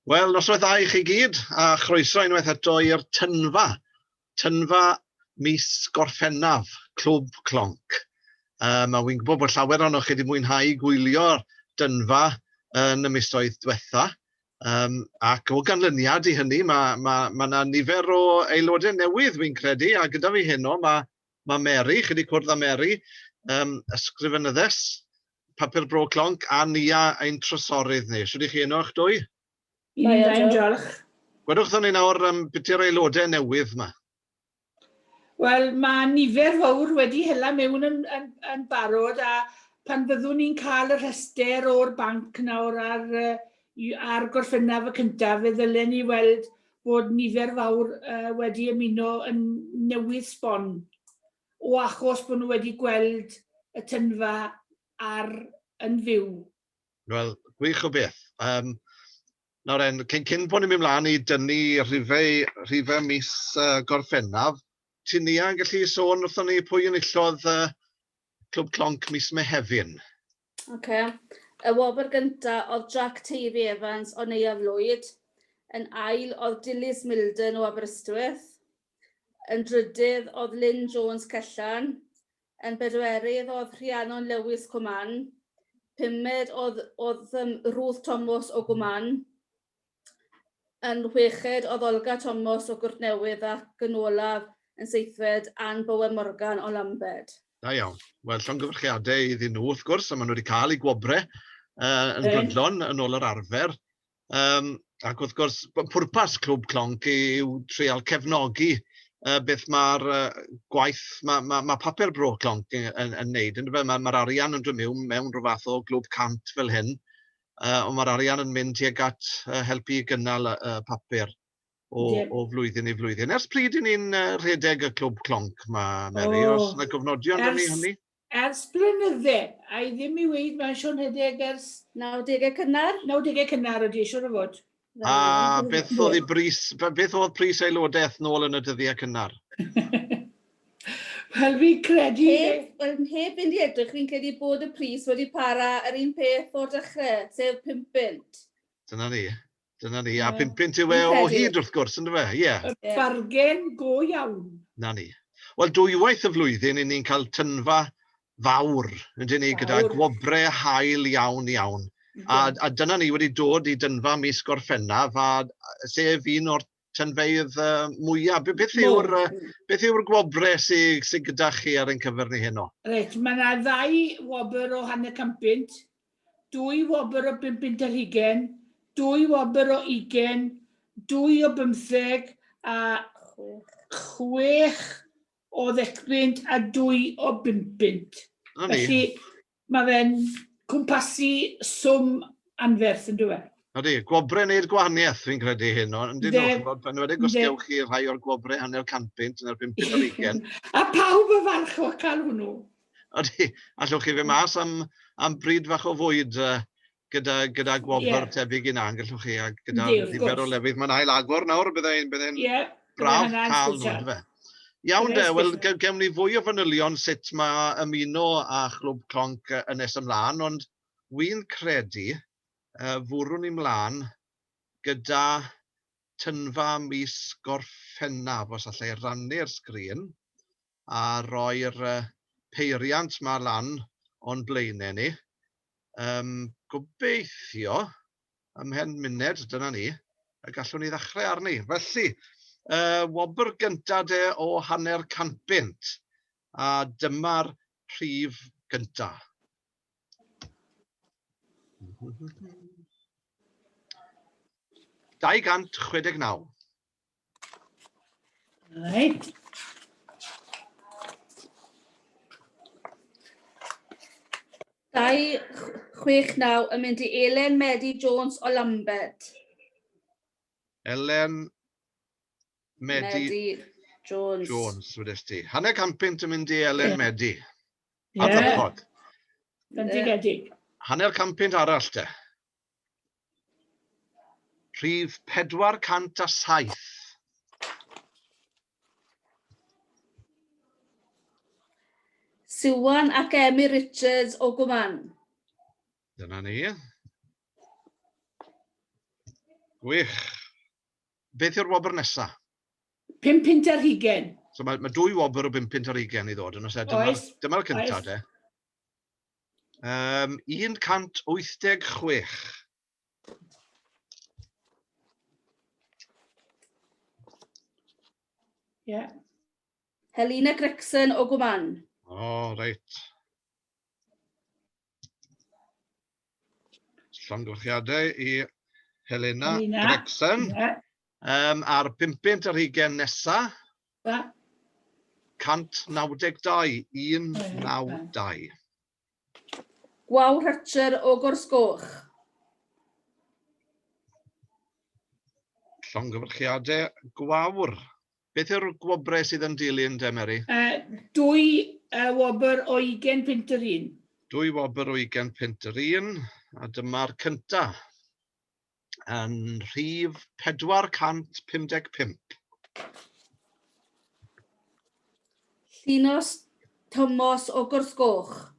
Wel, noswaith dda i chi gyd, a chroeso unwaith eto i'r Tynfa. Tynfa mis Gorffennaf, Clwb Clonc. Um, a wy'n gwybod bod llawer o'n chi wedi mwynhau gwylio'r Dynfa yn y misoedd diwetha. Um, ac o ganlyniad i hynny, mae yna ma, ma nifer o aelodau newydd, wy'n credu, a gyda fi heno mae ma' Mary, chi 'di cwrdd â Mary, yym ysgrifenyddes Papur Bro Clonc a Nia ein trysorydd ni. Shwd 'y chi heno y'ch dwy? I ni'n da, diolch. Gwedwch wrthon ni nawr yym beth yw'r aelodau newydd 'ma? Wel, mae nifer fawr wedi hela mewn yn, yn, yn barod a pan fyddwn ni'n cael y rhestr o'r banc nawr ar Ar Gorffennaf y cyntaf, fe ddylen ni weld bod nifer fawr wedi ymuno yn newydd sbon, o achos bod nhw wedi gweld y tynfa ar yn fyw. Wel, gwych o beth. Um, nawr en, cyn, cyn bod ni'n mynd mlaen i dynnu rhifau, rhifau mis uh, gorffennaf, ti'n ni yn gallu sôn wrthon ni pwy yn illodd uh, Clwb Clonc mis Mehefin? Oce. Y wobr gynta oedd Jack Tavy Evans o Neuadd Lwyd, yn ail oedd Dilys Milden o Aberystwyth, yn drydydd oedd Lynne Jones Cellan, yn bedwerydd oedd Rhiannon Lewis Cwman, pumed oedd oedd yym Ruth Tomos o Gwman, yn chweched oedd Olga Tomos o Gwrtnewydd ac yn olaf yn seithfed Ann Bowen Morgan o Lambed. Da iawn. Wel, llongyfarchiadau iddyn nhw, wrth gwrs, a maen nhw wedi cael eu gwobrau uh, yn okay. brydlon yn ôl yr arfer. Um, ac wrth gwrs, pwrpas Clwb Clonc yw treol cefnogi uh, beth mae'r uh, gwaith, mae ma, ma papur bro Clonc yn, yn, yn neud. Yn Mae'r ma arian yn dod mewn, mewn rhyw fath o glwb cant fel hyn, Ond mae'r arian yn mynd tuag at helpu i gynnal y papur o... ie. ...o flwyddyn i flwyddyn. Ers pryd 'y ni'n rhedeg y Clwb Clonc 'ma, Mary? O! Oes 'na gofnodion am hynny? Ers blynydde, a i ddim i weud mae'n siŵr rhedeg ers... Nawdegau cynnar? Nawdegau cynnar ydy, siŵr o fod. A beth oedd ei bris, beth oedd pris aelodaeth nôl yn y dyddiau cynnar? Wel, fi'n credu... Heb, wel, heb fynd i edrych, fi'n credu bod y pris wedi para yr un peth o'r dechrau, sef 5 punt. Dyna ni. Dyna ni. A 5 punt yw e o hyd, wrth gwrs, ynddo fe? Ie. Yeah. Bargen go iawn. Na ni. Wel, dwywaith y flwyddyn, i ni'n cael tynfa fawr, ydyn ni, gyda gwobrau hael iawn iawn. A, a dyna ni wedi dod i dynfa mis Gorffennaf, a, sef un o'r tynfeydd uh, mwyaf. Beth yw'r beth yw'r gwobre sydd sy gyda chi ar ein cyfer ni heno? Reit, mae yna ddau wobr o hanner campynt, dwy wobr o bum pint ar hugen, dwy wobr o ugen, dwy o bymtheg a chwech o ddecpunt a dwy o bumpynt. Felly, mae fe'n cwmpasu swm anferth yn dweud. Ydy, gwobrau wneud gwahaniaeth, fi'n credu hyn, ond dyn nhw'n chymod, pan wedi gostiow chi rhai o'r gwobrau hanner canpynt yn erbyn peth o'r ugen. A pawb y farch o cael hwnnw. Ydy, allwch chi fe mas am, am bryd fach o fwyd uh, gyda gyda gwobr yeah. tebyg i na'n gallwch chi, a gyda nifer o lefydd. Mae'n ail agor nawr, byddai'n byddai'n yeah, braf cael nhw, fe. Iawn de, wel, gewn ni fwy o fanylion sut mae ymuno a Chlwb Clonc yn nes ymlaen, ond wy'n credu uh, fwrwn ni mlaen gyda tynfa mis Gorffennaf, os allai rannu'r sgrin. a roi'r peiriant 'ma lan o'n blaenau ni. Yym, gobeithio, ymhen munud, dyna ni, y gallwn ni ddechrau arni. Felly, y wobr gynta de o hanner cant bunt, a dyma'r rhif gynta. Dau gant chwedeg naw. Right. Dau, chwech, naw yn mynd i Elen Medi Jones o Lambert. Elen Medi, Medi Jones. Jones, wedys ti. Hanner campynt yn mynd i Elen yeah. Medi. Yeah. Adnabod. Bendigedig. Hanner campynt arall te. Rhif 407. Siwan ac Emyr Richards o Gwman. Dyna ni. Gwych. Beth yw'r wobr nesa? Pum pint ar hugen. So mae, mae dwy wobr o bum pint ar hugen i ddod yn oes e? Dyma'r, dyma'r cyntaf de. Um, 186. Yeah. Helena Gregson o Gwman. O, oh, reit. Llongyflliadau i Helena, Helena. Gregson. Yeah. Um, a'r 50 ar hugen nesaf. Da. 192 192. Gwaw Rhytcher o Gorsgoch. Llongyfarchiadau gwawr. Beth yw'r gwobrau sydd yn dilyn de, Mary? Uh, dwy uh, wobr o 20 pint yr un. Dwy wobr o 20 pint yr un, a dyma'r cynta. yn rhif 455. Llinos Tomos o Gorsgoch.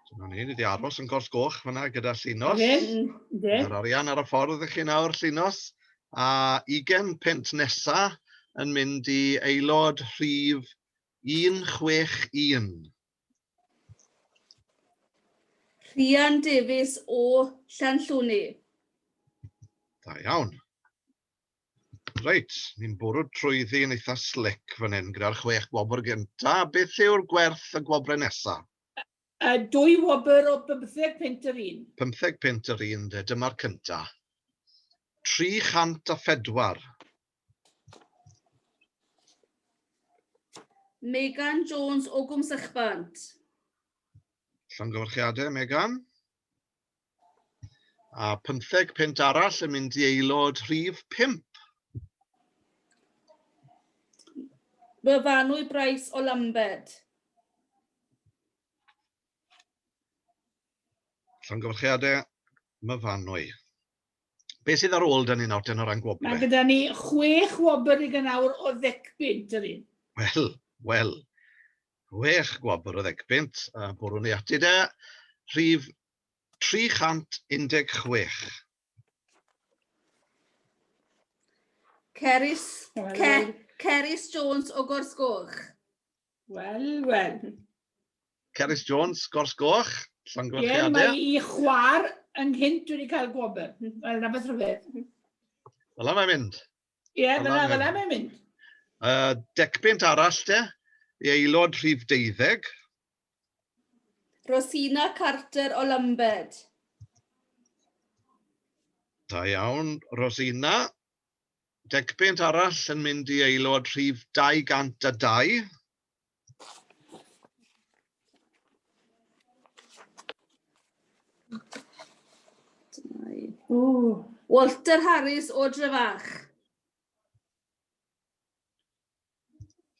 Dyna ni, ni wedi aros yn gors goch fyna gyda Llinos. Yr arian ar y ffordd i chi nawr, Llinos. A ugen pent nesa yn mynd i aelod rhif 161. Rhian Davies o Llanllwni. Da iawn. Reit, ni'n bwrw trwyddi yn eitha slick fan hyn gyda'r chwech gwobr gynta. Beth yw'r gwerth y gwobrau nesa? A dwy wobr o 15 punt yr un. 15 punt yr un de, dyma'r cynta. 304. Megan Jones o Gwm Sychbant. Llongyfarchiadau, Megan. A pymtheg pent arall yn mynd i aelod rhif 5. Byfanwy Bryce o Lambed. Llongyfarchiadau, Myfanwy. Beth sydd ar ôl dyn ni nawr ten o ran gwobr? Mae gyda ni chwech wobr i gynawr o ddecpunt yr un. Wel, wel. Chwech gwobr o ddecpunt a bwrw ni ati de. Rhif 316. Cerys, Cer, Cerys Jones o Gorsgoch. Wel, wel. Cerys Jones, Gors Goch, Llongyfarchiadau. Ie, mae i chwar yn hyn dwi wedi cael gwobr. Wel, na beth rhywbeth. Fel mae'n mynd. Ie, yeah, fel fel mae'n mynd. Uh, decbynt arall te, i aelod rhif deuddeg. Rosina Carter o Lambed. Da iawn, Rosina. Decpunt arall yn mynd i aelod rhif 202. Walter Harris o Drefach.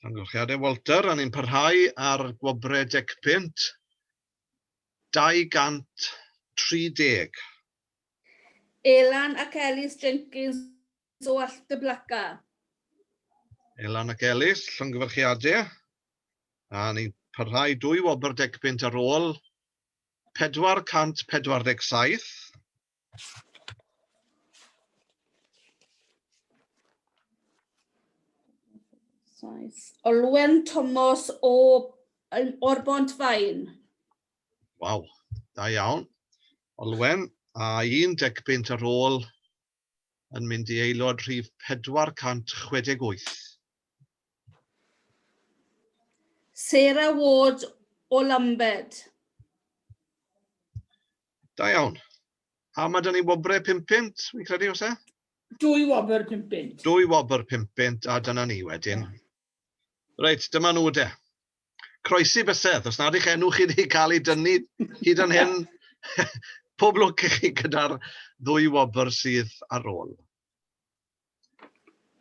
Amgylchiadau Walter, a ni'n parhau ar gwobrau decpunt. 230. Elan ac Elis Jenkins o Alltyblaca. Elan ac Elis, llongyfarchiade. A ni'n parhau dwy wobr degpunt ar ôl 447. Olwen Tomos o o'r Bont Fain. Waw, da iawn. Olwen, a un degbynt ar ôl yn mynd i aelod rhif 468. Sarah Ward o Lambed. Da iawn. A mae dyn ni wobre 5 pint, fi'n credu, os e? Dwy wobr 5 pint. Dwy wobr 5 pint, a dyna ni wedyn. Reit, dyma nhw de. Croesi bysedd, os nad eich enw chi wedi cael ei dynnu hyd yn hyn, pob lwc i chi gyda'r ddwy wobr sydd ar ôl.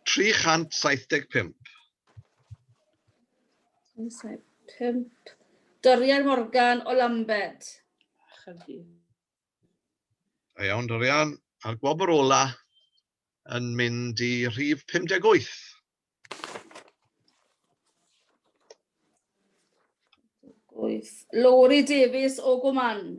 375. 375. Dorian Morgan o Lambed. A iawn, Dorian. A'r gwobr ola yn mynd i rhif 58. Wyth. Lowri Davies o Gwman.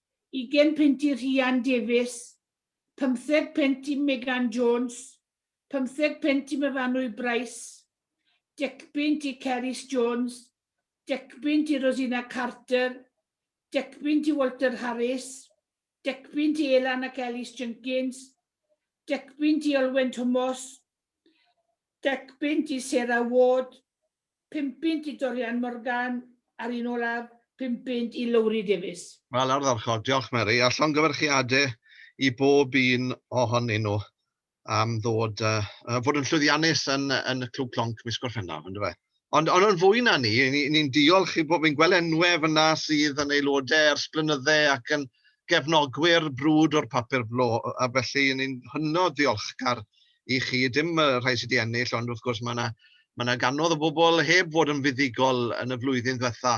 20 punt i Rhian Davies, pymtheg punt i Megan Jones, pymtheg punt i Myfanwy Brice, decpunt i Cerys Jones, decpunt i Rosina Carter, decpunt i Walter Harris, decpunt i Elan ac Ellis Jenkins, decpunt i Olwen Thomas, decpunt i Sarah Ward, Pum punt i Dorian Morgan a'r un olaf, pum punt i Lowri Davies. Wel, ardderchog. Diolch, Mary, a llongyfarchiadau i bob un ohonyn nhw am ddod, uh, fod yn llwyddiannus yn, yn y Clwb Clonc mis Gorffennaf, yn dweud. Ond, ond yn fwy na ni, ni'n ni, ni diolch i bob, fi'n gweld enwau fyna sydd yn aelodau ers blynyddau ac yn gefnogwyr brwd o'r papur blo, a felly ni'n hynod ddiolchgar i chi, dim y rhai sydd wedi ennill, ond wrth gwrs mae yna mae yna ganodd o bobl heb fod yn fuddugol yn y flwyddyn ddiwetha.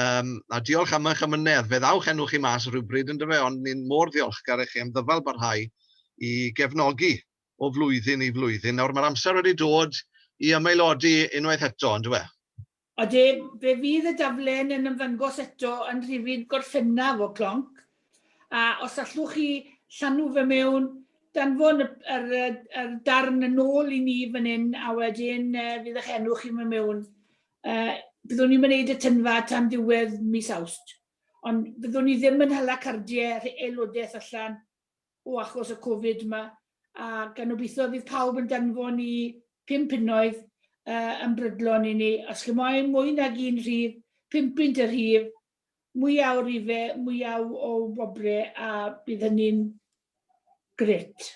Um, a diolch am eich amynedd. Fe ddawch enw chi mas rhywbryd yn dyfe, ond ni'n mor ddiolchgar i chi am ddyfal barhau i gefnogi o flwyddyn i flwyddyn. Nawr mae'r amser wedi dod i ymaelodi unwaith eto, yn dywe? Odi, fe fydd y daflen yn ymddangos eto yn rhifyn Gorffennaf o Clonc, a os allwch chi llanw fe mewn, danfon y yr yr darn yn ôl i ni fan hyn a wedyn fydd ych enw chi'n mynd mewn. Byddwn ni'm yn neud y tynfa tan ddiwedd mis Awst, ond byddwn ni ddim yn hala cardiau aelodeth allan o achos y Covid yma, a gan obeithio fydd pawb yn danfon i pum punnoedd uh, yn brydlon i ni. Os chi moyn mwy nag un rhif, pum pint y rhif, mwyaf o rife, mwyaf o wobre, a bydd hynny'n gret.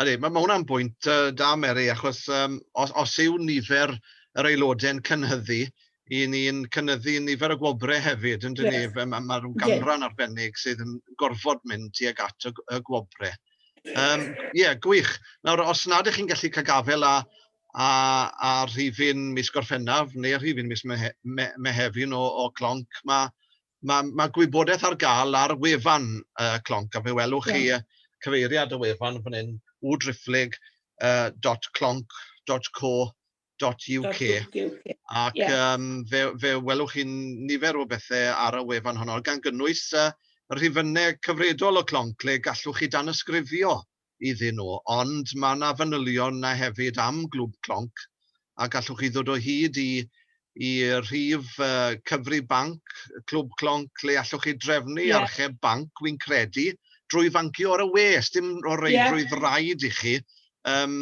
Ydy, mae hwnna'n bwynt da, Mary, achos um, os, os yw nifer yr aelodau'n cynhyddu, i ni'n cynyddu nifer y gwobrau hefyd, yn dyn yes. ni, mae ma rhyw ganran yeah. arbennig sydd yn gorfod mynd tuag at y, y gwobrau. Ie, um, yeah, gwych. Nawr, os nad ych chi'n gallu cael gafel a, a, a rhifin mis Gorffennaf neu rhifin mis Mehefin o, o Clonc, mae Mae, mae gwybodaeth ar gael ar wefan uh, Clonc, a fe welwch chi yeah. cyfeiriad y wefan fan hyn, wdriphlyg.clonc.co.uk. Ac yeah. um, fe, fe welwch chi nifer o bethau ar y wefan honno, gan gynnwys uh, rhifynnau cyfredol o Clonc le gallwch chi dan ysgrifio iddyn nhw, ond mae yna fanylion 'na hefyd am Glwb Clonc, a gallwch chi ddod o hyd i i rhif cyfrif banc Clwb Clonc le allwch chi drefnu yeah. archeb banc, wi'n credu, drwy fancio ar y we, dim o reidrwydd yeah. rhaid i chi um,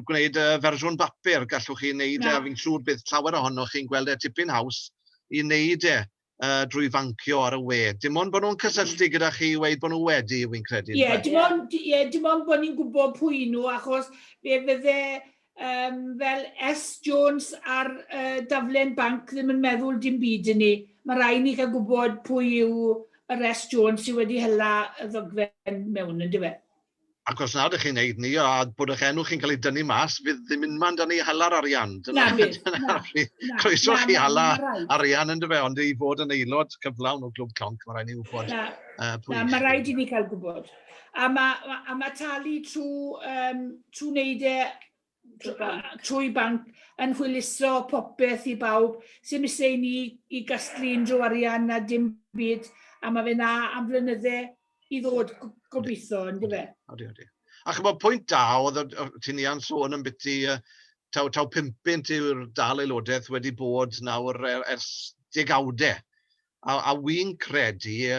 gwneud y fersiwn bapur, gallwch chi wneud e, yeah. fi'n siŵr bydd llawer ohonoch chi'n gweld e tipyn haws i wneud e yy drwy fancio ar y we. Dim ond bod nhw'n cysylltu gyda chi i weud bod nhw wedi, wi'n credu. Ie, yndyfe? dim ond, ie, dim ond bod ni'n gwybod pwy nhw, achos fe fydde um, fel S Jones ar uh, daflen banc ddim yn meddwl dim byd i ni. Mae rai ni cael gwybod pwy yw yr S Jones sydd wedi hela y ddogfen mewn, yndyfe? Ac os nad ych chi'n neud ni a bod eich enw chi'n cael ei dynnu mas, fydd ddim unman man dan i hala'r arian. Dyna, na, dyna, na, croeso chi hala arian yn dy fe, ond i fod yn aelod cyflawn o Glwb Clonc, mae rhaid ni wybod na, uh, pwy. Na, mae rhaid i ni cael gwybod. A mae, a mae talu trwy, um, trwy wneud e trwy banc yn hwyluso popeth i bawb sy'n isie i ni i gasglu unrhyw arian na dim byd a mae fe na am flynydde i ddod gobeithio yn dyfe. Odi, odi. A chymod pwynt da oedd ti'n ia'n sôn yn biti taw, taw 50 yw'r dal aelodaeth wedi bod nawr er, ers degawdau. A, a wy'n credu y,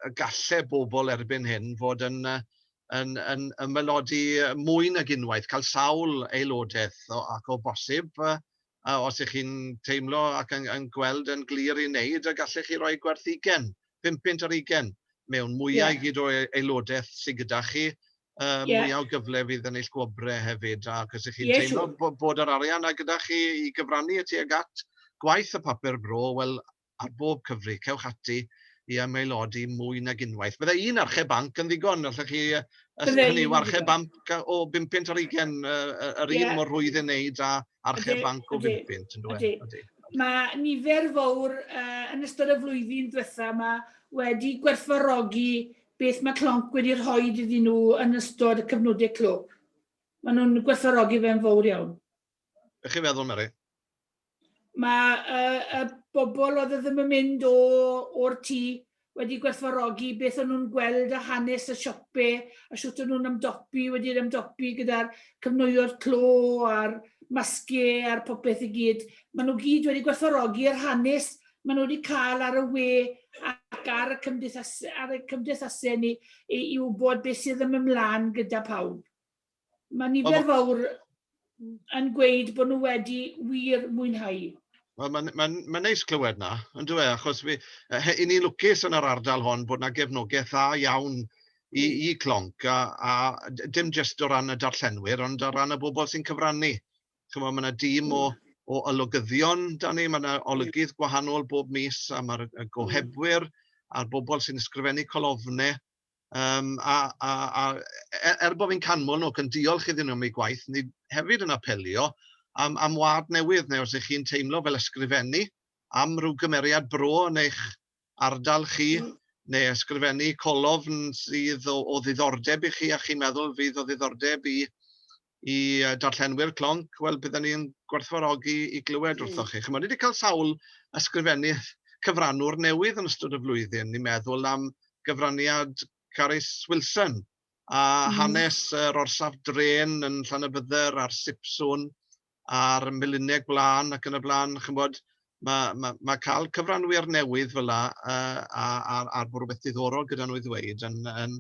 y galle bobl erbyn hyn fod yn, yn, yn ymaelodi mwy nag unwaith, cael sawl aelodaeth o, ac o bosib, os ych chi'n teimlo ac yn, yn gweld yn glir i wneud, y gallech chi roi gwerth ugen, pum punt ar ugen, mewn mwyau yeah. gyd o aelodaeth sydd gyda chi, yy mwy o gyfle fydd yn eich gwobrau hefyd ac os 'y chi'n teimlo bo- bod yr arian 'na gyda chi i gyfrannu tuag at gwaith y Papur Bro, wel ar bob cyfri, cewch ati i ymaelodi mwy nag unwaith. Bydde un archeb banc yn ddigon, allwch chi, yy, os Bydde hynny yw, un archeb yn ddigon. banc o bum punt ar ugain, yy, yy, yr un Ie. mor rwydd ei wneud â archeb Ydi, banc o ydi, bum punt, yndyw e? ydi. Ydy. Mae nifer fawr uh, yn ystod y flwyddyn diwetha yma wedi gwerthfarogi beth mae Clonc wedi rhoi iddyn nhw yn ystod y cyfnodau clwb. Maen nhw'n gwerthfawrogi fe'n fawr iawn. Be chi'n meddwl, Mary? Mae y, y bobl oedd e ddim yn mynd o, o'r tŷ wedi gwerthfawrogi beth o'n nhw'n gweld a hanes y siope a siwt o'n nhw'n ymdopi wedi'r ymdopi gyda'r cyfnwyo'r clo a'r masge a'r popeth i gyd. Maen nhw gyd wedi gwerthfawrogi yr hanes maen nhw wedi cael ar y we ac ar y cymdeithas, ar y cymdeithasau ni i, i wybod beth sydd yn ymlaen gyda pawb. Mae nifer fawr yn gweud bod nhw wedi wir mwynhau. Wel, mae'n ma ma neis clywed na, yn dweud, achos fi, i ni lwcus yn yr ardal hon bod yna gefnogaeth dda iawn i, hmm. i clonc, a, a dim jyst o ran y darllenwyr, ond o ran y bobl sy'n cyfrannu. chimod, ma' 'na dîm o o olygyddion 'da ni, ma' 'na olygydd gwahanol bob mis, a ma'r y gohebwyr a'r bobl sy'n ysgrifennu colofnau, yym a a a e- er bod fi'n canmol nhw ac yn diolch iddyn nhw am eu gwaith, ni hefyd yn apelio am am wlad newydd, neu os 'y chi'n teimlo fel ysgrifennu am ryw gymeriad bro yn eich ardal chi neu ysgrifennu colofn sydd o o ddiddordeb i chi a chi'n meddwl fydd o ddiddordeb i i darllenwyr Clonc, wel bydden ni'n gwerthfawrogi i glywed wrthoch chi. Chimod, ni wedi cael sawl ysgrifennydd cyfranwr newydd yn ystod y flwyddyn. Ni'n meddwl am gyfraniad Carys Wilson a hanes yr orsaf drên yn Llanybydder a'r Sipswn a'r melinau gwlân ac yn y blaen, chimod, ma' ma' ma' cael cyfranwyr newydd fela yy a a a bod rhywbeth diddorol gyda nhw i ddweud yn yn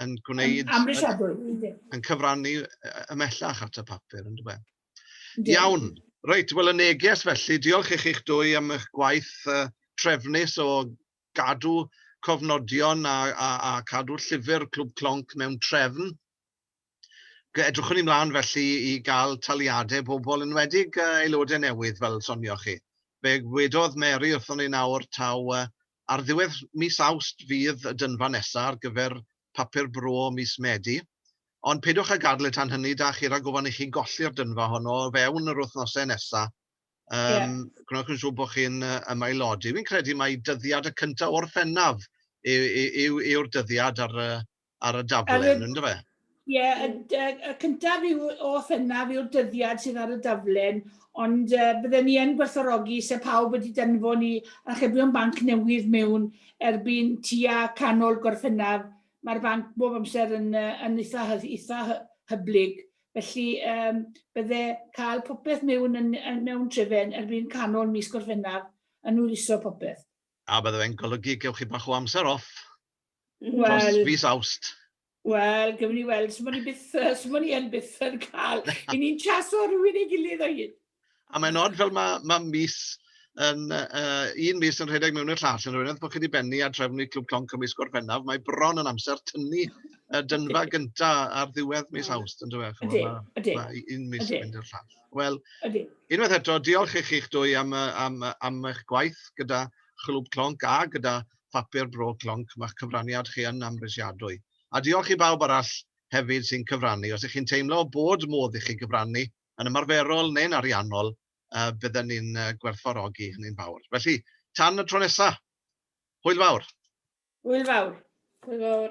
yn gwneud... Yn amhrisiadwy, yndi. ...yn cyfrannu ymhellach at y papur, yn dyw e. Yndi. Iawn, reit, wel y neges felly, diolch i chi'ch dwy am eich gwaith yy trefnus o gadw cofnodion a a a cadw llyfr Clwb Clonc mewn trefn. Edrychwn i mlaen felly i gael taliadau bobl, enwedig aelodau newydd fel sonioch chi. Fe wedodd Mary wrthon ni nawr taw ar ddiwedd mis Awst fydd y dynfa nesaf ar gyfer Papur Bro mis Medi, ond peidiwch â gadael y tan hynny, da chi, rhag ofn i chi golli'r dynfa honno o fewn yr wythnosau nesaf. Um, yeah. Gwneud yn siŵr bod chi'n ymaelodi. Fi'n credu mai dyddiad y cyntaf o'r Orffennaf yw'r dyddiad ar, ar y daflen, yn dyfe? Ie, y cyntaf yw o Fennaf yw'r dyddiad sydd ar y daflen, ond bydden ni yn gwerthfawrogi se pawb wedi danfon i archebion banc newydd mewn erbyn tua canol Gorffennaf. Mae'r banc bob amser yn eitha, eitha hyblyg, felly bydde cael popeth mewn yn, mewn trefen erbyn canol mis Gorffennaf yn hwyluso popeth. A bydde fe'n golygu gewch chi bach o amser off? Wel... Dros fis Awst. Wel, gewn ni weld. Swn i byth, swn i yn byth yn cael. I ni'n chaso rhywun ei gilydd o hyd. A mae'n od fel mae, mae mis yn uh, un mis yn rhedeg mewn i'r llall yn rhywbeth bod chi wedi bennu a trefnu Clwb Clonc ym mis Gorffennaf. Mae bron yn amser tynnu y dynfa gynta ar ddiwedd mis Awst, yn dweud. Ydy, ydy. Mae un mis yn mynd i'r llall. Wel, unwaith eto, diolch i chi'ch dwy am, am, am eich gwaith gyda Chlwb Clonc a gyda papur bro clonc, mae'ch cyfraniad chi yn amhrisiadwy. A diolch i bawb arall hefyd sy'n cyfrannu. Os ych chi'n teimlo bod modd i chi gyfrannu, yn ymarferol neu'n ariannol, bydden ni'n gwerthfawrogi hynny'n fawr. Felly, tan y tro nesa'! Hwyl fawr! Hwyl fawr! Hwyl fawr!